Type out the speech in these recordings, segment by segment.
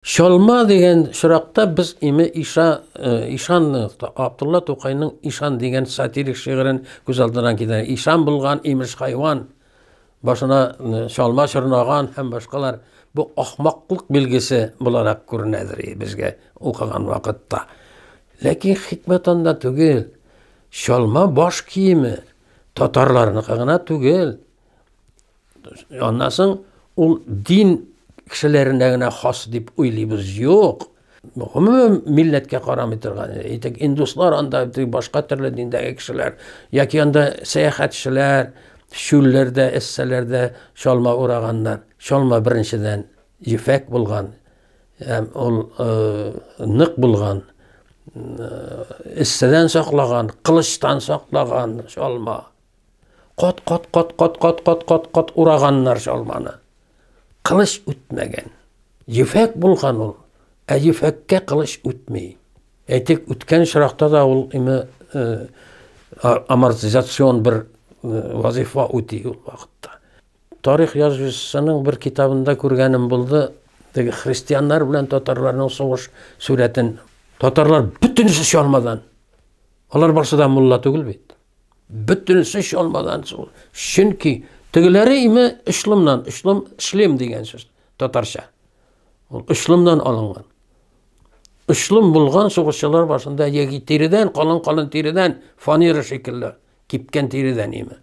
Чалма дигән чоракта без име Иша, э, Ишан э, Абдулла Тукайның Ишан дигән сатирик шигырен күз алдына китерә. Ишан булган имеш хайван, башына э, чалма чорнаган һәм башкалар бу ахмаклык билгесе буларак күренәдер безгә укыган вакытта. Ләкин хикмәт анда түгел. Чалма баш киеме татарларныкы гына түгел. Аннан соң ул дин кешеләренә генә хас дип уйлыйбыз. Юк. Гомумән милләткә карамый торган. Әйтик, индуслар анда башка төрле диндәге кешеләр яки анда сәяхәтчеләр чүлләрдә, эссәләрдә чалма ураганнар. Чалма беренчедән ефәк булган, һәм ул э, нык булган, э, эссәдән саклаган, кылычтан саклаган чалма. Кат-кат-кат-кат-кат-кат-кат-кат ураганнар чалманы. Кылыч үтмәгән. Ефәк булган ул, ә ефәккә кылыч үтми. Әйтик, үткән очракта да ул име э, амортизацион бер э, вазифа үти ул вакытта. Тарих язучысының бер китабында күргәнем булды, теге христианнар белән татарларның сугыш сурәтен. Татарлар бөтенесе чалмадан. Алар барсы да мулла түгел бит. Бөтенесе чалмаган шул. Чөнки тегеләре име ышлымнан, ышлым, шлем дигән сүз татарча. Ул ышлымнан алынган. Ышлым булган сугышчылар башында яки тиредән, калын-калын тиредән, фанера шикелле, кипкән тиредән име.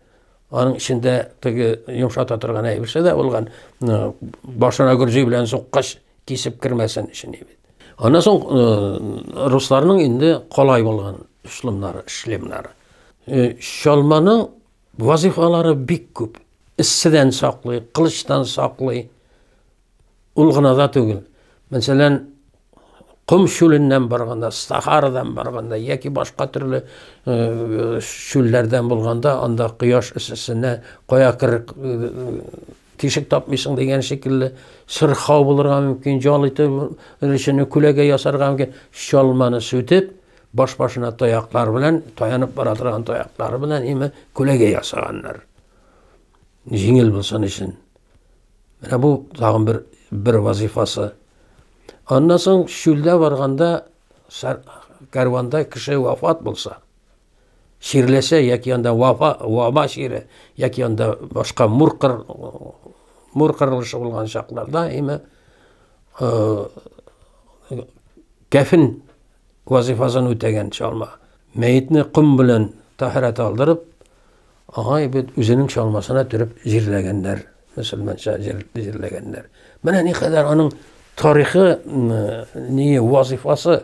Аның эчендә теге йомшата торган әйберсе дә булган, башына гөрҗи белән суккач, кисеп кермәсен өчен бит. Аннан соң э, русларның инде колай булган шлемнары, шлемнары. Э, чалманың вазифалары бик күп. Исседән саклый, кылычтан саклый. Ул гына да түгел. Мәсәлән, ком шүленнән барганда, сахарадан барганда яки башка төрле э, шүлләрдән булганда, анда кояш эссесенә кая кер Тишек тапмыйсың дигән шикелле, сырхау булырга мөмкин, җал ите өлешенә күләгә ясарга мөмкин. Чалманы сүтеп, баш-башына таяклар белән, таянып бара торган таяклары белән име күләгә ясаганнар. Җиңел булсын өчен. Менә бу тагын бер бер вазифасы. Аннан соң чүлдә барганда кәрванда кеше вафат булса, чирләшә яки анда вафа, ваба чире яки анда башка мур кыр, мур кырылышы булган чакларда әйме э, кәфен вазифасын үтәгән чалма мәетне ком белән тәһарәт алдырып аңа бит үзенең чалмасына төреп җирләгәннәр мөселманча җирләгәннәр менә никадәр аның тарихы не вазифасы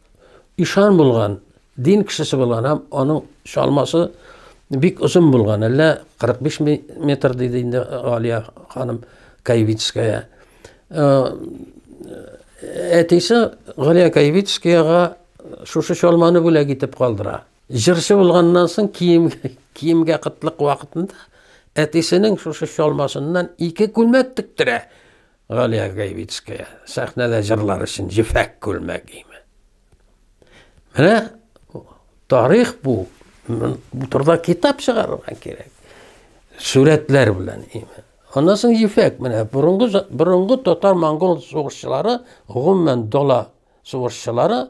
Ишан булган, дин кешесе булган һәм аның чалмасы бик озын булган, әллә 45 метр диде инде Алия ханым Каевицкая. Әтисе Галия Каевицкаяга шушы чалманы бүләк итеп калдыра. Җырчы булганнан соң кием киемгә кытлык вакытында әтисенең шушы чалмасыннан ике күлмәк тектерә. Галия Гайвицкая сәхнәдә җырлар өчен җефәк күлмәк гиме. Менә тарих бу. Бу турыда китап чыгарырга кирәк. Сурәтләр белән име. Аннан соң ефәк менә борынгы борынгы татар-монгол сугышчылары, гомумән дала сугышчылары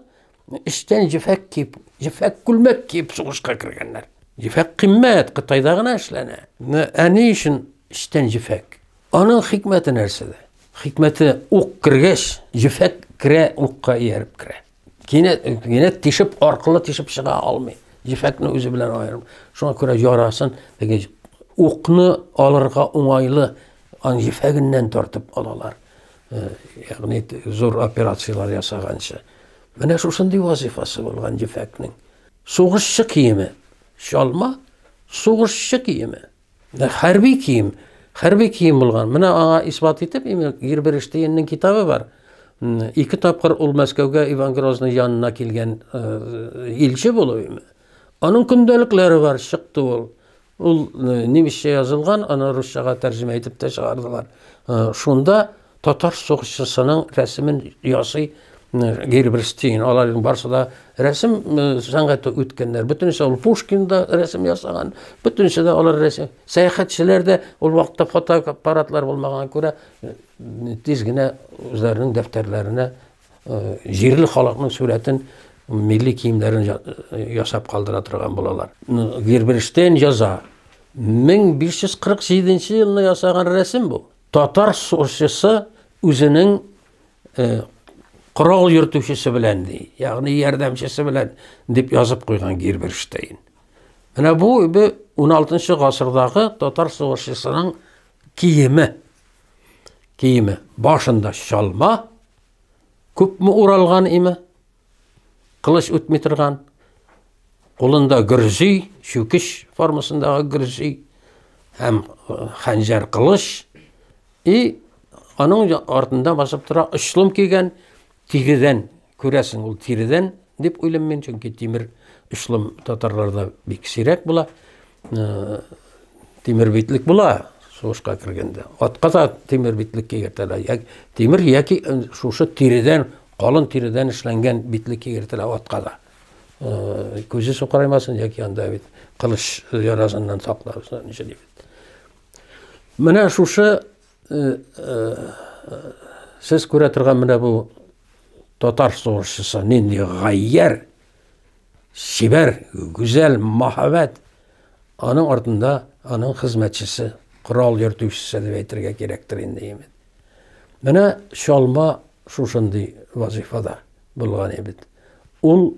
Эчтән җефәк киеп, җефәк күлмәк киеп сугышка кергәннәр. Җефәк кыйммәт, Кытайда гына эшләнә. Ә ни өчен эчтән җефәк? Аның хикмәте нәрсәдә? Хикмәте ук кергәч, җефәк керә, укка ияреп керә. Кинәт, кинәт тишеп, аркылы тишеп чыга алмый. Җефәкне үзе белән аерым. Шуңа күрә ярасын, теге укны алырга уңайлы, ан җефәгеннән тартып алалар. Э, ягъни зур операцияләр ясаганчы менә шушындый вазифасы булган ефәкнең сугышчы киеме чалма сугышчы киеме хәрби кием хәрби кием булган менә аңа исбат итеп герберештейнның китабы бар ике тапкыр ул мәскәүгә иван грозный янына килгән э, илче булып аның көндәлекләре бар чыкты ул Ул немецчә язылган, аны русчага тәрҗемә итеп тә чыгардылар. Шунда татар сугышчысының рәсемен ясый Герберстейн. Аларның барысы да рәсем сәнгате үткәннәр. Бөтенесе ул Пушкин да рәсем ясаган. Бөтенесе дә алар рәсем. Сәяхәтчеләр дә ул вакытта фотоаппаратлар булмаган күрә тиз генә үзләренең дәфтәрләренә Җирле халыкның сурәтен, милли киемнәрен ясап калдыра торган булалар. Герберштейн яза. 1547 елны ясаган рәсем бу. Татар сорчысы үзенең корал йөртүчесе белән ди, ягъни ярдәмчесе белән дип язып куйган Герберштейн. Менә бу 16 гасырдагы татар сугышчысының киеме. Киеме башында чалма, күпме уралган име, кылыч үтми торган, кулында гөрзи, чүкеш формасындагы гөрзи һәм э, хәнҗәр кылыч и аның артында басып тора очлым кигән Тиредән, күрәсең, ул тиредән дип уйлыйм мин, чөнки тимер очлым татарларда бик сирәк була. Э, тимер битлек була сугышка кергәндә. Атка да тимер битлек кигертәләр. Як, тимер яки э, шушы тиредән, калын тиредән эшләнгән битлек кигертәләр атка да. Э, күзе сукыраймасын яки анда бит кылыч ярасыннан сакларсың, ничә дип. Менә шушы Сез күрә торган менә бу татар сугышчысы нинди гаярь, чибәр, гүзәл, мәһабәт. Аның артында аның хезмәтчесе, корал йөртүчесе дип әйтергә кирәктер инде имин. Менә чалма шушындый вазифада булган имин. Ул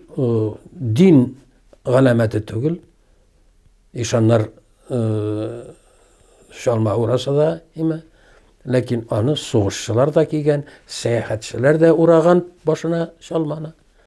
дин галәмәте түгел, Ишаннар чалма ураса да име, ләкин аны сугышчылар да кигән, сәяхәтчеләр дә ураган башына чалманы.